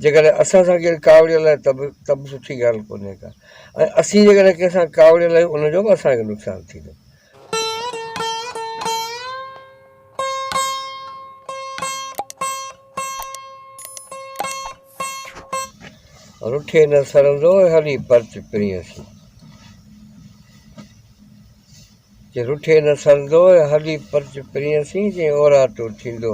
جيڪڏهن اسان سان ڪير ڪاوڙيل آهي ته به ته به سٺي ڳالهه ڪونهي ڪا ۽ اسين جيڪڏهن ڪنهن سان ڪاوڙيل آهيون ان جو به اسان کي نقصان ٿيندو. رٺي نه سرندو هلي پرچ پرينء سين. چي رٺي نه سرندو هلي پرچ پرينء سين چئين اوراٽو ٿيندو.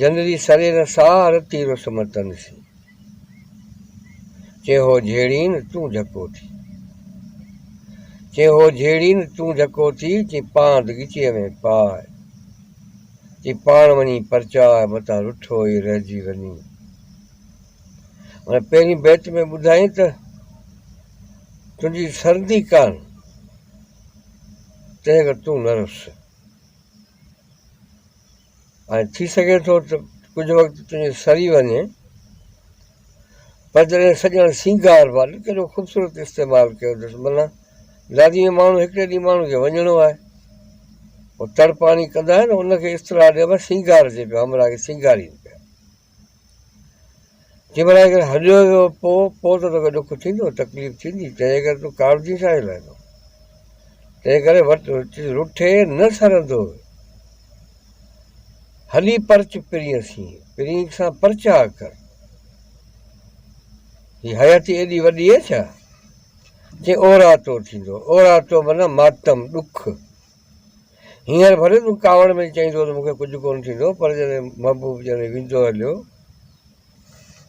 جنري سري نه ساهه رتي رس متن سين چي هو جهيڙين تون جهڪو ٿي چي هو جهيڙين تون جهڪو ٿي چي پاند ڳچيء ۾ پاء چي پاڻ وڃي پرچاء متان رٺو ئي رهجي وڃي ان پهرين بيت ۾ ٻڌائين ته تنهنجي سردي ڪان تنهن کان تون نه رس ۽ ٿي سگهي ٿو ته ڪجهه وقت تنهنجو سري وڃي پر جڏهن سڄڻ سينگار وال ڪيڏو خوبصورت استعمال ڪيو اٿس منا دادي ۾ ماڻهو هڪڙي ڏينهن ماڻهو کي وڃڻو آهي هو تڙپاڻي ڪندا آهن ان کي اصطلاح ڏيبا سينگار جي پيا همراهه کي سينگارين پيا جي ڀلا اگر هليو ويو پو پو ته توکي ڏک ٿيندو تڪليف ٿيندي تنهن ڪري تون ڪاوڙجين ڇا جي لاء ٿو تنهن ڪري وٽ رٺي نه سرندو هلي پرچ پرين سين پرين سان پرچا ڪر هي حياتي ايڏي وڏي اي ڇا جي اورا تو ٿيندو اورا تو منا ماتم ڏک هينئر ڀلي تون ڪاوڙ ۾ چئيندو ته مون کي ڪجهه ڪونه ٿيندو پر جڏهن محبوب جڏهن ويندو هليو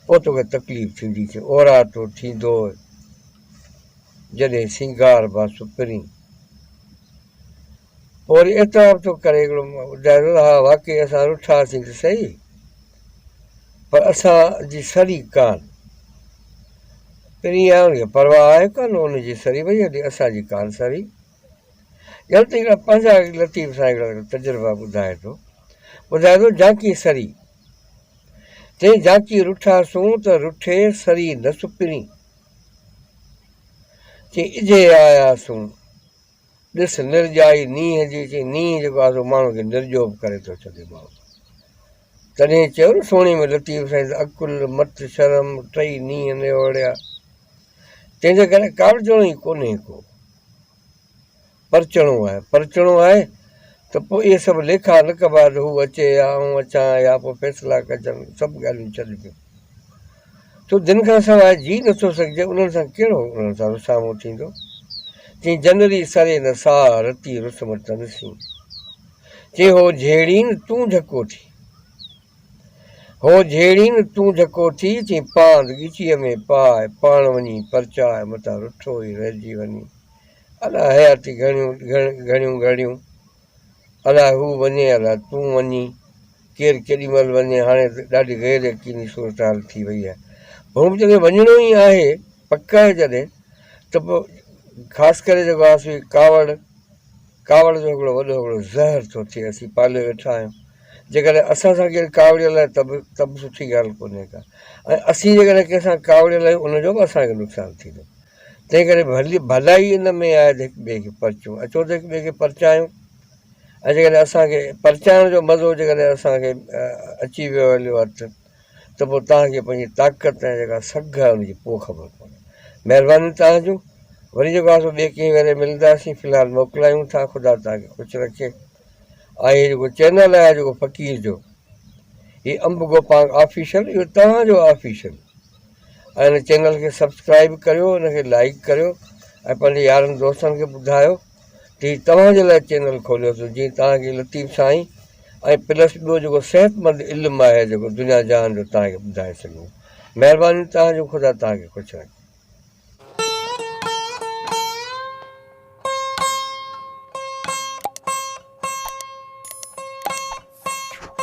پوء توکي تڪليف ٿيندي ٿي اورا تو ٿيندو جڏهن سينگار با سپرين پوء وري اعتراف ٿو ڪري هڪڙو ٻڌائي ها واقعي اسان رٺاسين ته صحيح پر اسان جي سري ڪان پرين آهي ان کي پرواهه آهي ڪان ان جي سري وئي هلي اسان جي ڪان سري ڄڻ ته هڪڙا پنهنجا لطيف سائين هڪڙا تجربا ٻڌائي ٿو ٻڌائي ٿو جانڪي سري چئي جانڪي رٺا سون ته رٺي سري نه سپرين چي اجهي آيا سون ڏس نرجائي نينهن جي چي نينهن جيڪو آسو ماڻهو کي نرجو به ڪري ٿو ڇڏي ماڻهو تڏهن چيو نه سهڻي ۾ لطيف سائين ته عقل، مت، شرم ٽئي نينهن نيوڙيا. تنهن جي ڪري ڪاوڙجڻو ئي ڪونهي ڪو. پرچڻو آهي. پرچڻو آهي ته پوء اهي سڀ ليکا نه ڪبا ته هو اچي يا آئون اچان يا پوء فيصلا ڪجن. سڀ ڳالهيون ڇڏبيون. ڇو دين کان سواء جي نٿو سگهجي انهن سان ڪهڙو انهن سان رسامو ٿيندو. چيائين جنري سري نه ساهه رتي رسم تنسين. چي هو جهيڙين تون جهڪو ٿي. هو جهيڙين تون جهڪو ٿي، چي پاند ڳچيء ۾ پاء، پاڻ وڃي پرچاء، متان رٺو ئي رهجي وڃي. الا حياتي گهڻيون گهڙيون، الا هو وڃي، الا تون وڃي، ڪير ڪيڏي مهل وڃي، هاڻي ته ڏاڍي غير يقيني صورتحال ٿي وئي آهي. هو به جڏهن وڃڻو ئي آهي، پڪ آهي جڏهن، ته پوء خاص ڪري جيڪو آسوئي ڪاوڙ، ڪاوڙ جو هڪڙو وڏو هڪڙو زهر ٿو ٿئي اسين پاليو ويٺا آهيون جيڪڏهن اسان سان ڪير ڪاوڙيل آهي ته به ته به سٺي ڳالهه ڪونهي ڪا ۽ اسين جيڪڏهن ڪنهن سان ڪاوڙيل آهيون ان جو به اسان کي نقصان ٿيندو تنهن ڪري ڀلي ڀلائي ان ۾ آهي ته هڪ ٻئي کي پرچون اچو ته هڪ ٻئي کي پرچايون ۽ جيڪڏهن اسانکي پرچائڻ جو مزو جيڪڏهن اسانکي اچي ويو هليو هٿ ته پوء توهان کي پنهنجي طاقت ۽ جيڪا سگهه آهي ان جي ڪو خبر ڪونهي. مهرباني توهان جون. وري جيڪو آسو ٻئي ڪنهن ويري ملنداسين في الحال موڪلايون ٿا خدا توهان کي خوش رکي. آء هي جيڪو چينل آهي جيڪو فقير جو هي امب گوپانگ آفيشل اهو توهان جو آفيشل ۽ ان چينل کي سبسڪرائيب ڪريو ان کي لائيڪ ڪريو ۽ پنهنجي يارن دوستن کي ٻڌايو. ٽي توهان جي لاء چينل کوليو اٿس جيئن توهان کي لطيف سائين ۽ پلس ٻيو جيڪو صحتمند علم آهي جيڪو دنيا جهان جو توهان کي ٻڌائي سگهون مهرباني توهان جو خدا توهان کي خوش رکي.